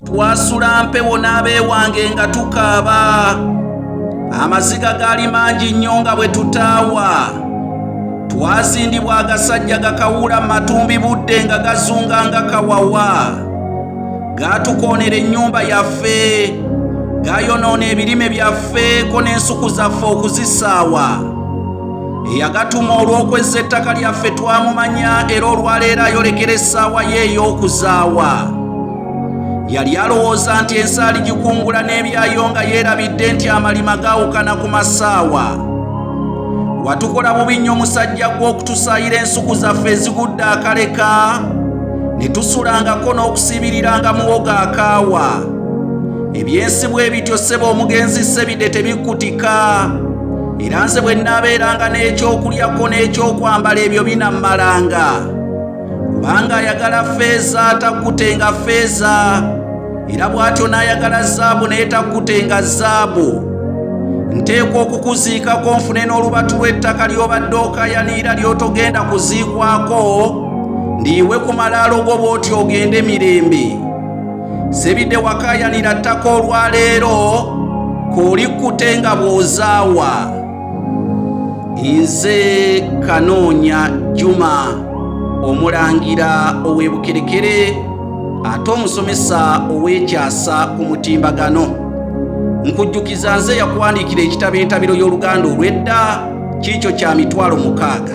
twasula mpewo n'abeewange nga tukaaba amaziga gaali mangi nnyo nga bwe tutaawa twazindibwa agasajja gakawuula mu matumbi budde nga gazunga nga kawawa gaatukoonera ennyumba yaffe gayonoona ebirime byaffe ko n'ensuku zaffe okuzisaawa eyagatuma olw'okwezza ettaka lyaffe twamumanya era olwaleero ayolekera essaawa ye ey'okuzaawa yali alowooza nti ensaali gikungula n'ebyayo nga yeerabidde nti amalima gaawukana ku masaawa watukola bubi nnyo musajja gw'okutusaayira ensuku zaffe ezigudde akaleka ne tusulangako n'okusibirira nga muwoga akaawa ebyensi bwe bityo ssebo omugenzi sebide tebikkutika era nze bwe nnaabeeranga n'ekyokulyako n'ekyokwambala ebyo binammalanga kubanga ayagala feeza takkutenga feeza era bw'atyo n'ayagala zaabu naye takkutenga zaabu nteekwa okukuziikako nfune n'olubatu lw'ettaka ly'obadde okayaniira ly'otogenda kuziikwako ndiyiwe ku malaalo go bw'oti ogende mirembe sebidde wakayanira ttaka olwaleero kolikkutenga bw'ozaawa nze kanoonya juma omulangira ow'ebukerekere ate omusomesa ow'ekyasa ku mutimbagano nkujjukiza nze yakuwandiikira ekitabo entabiro y'oluganda olw'edda kiikyo kya mitwalo mukaaga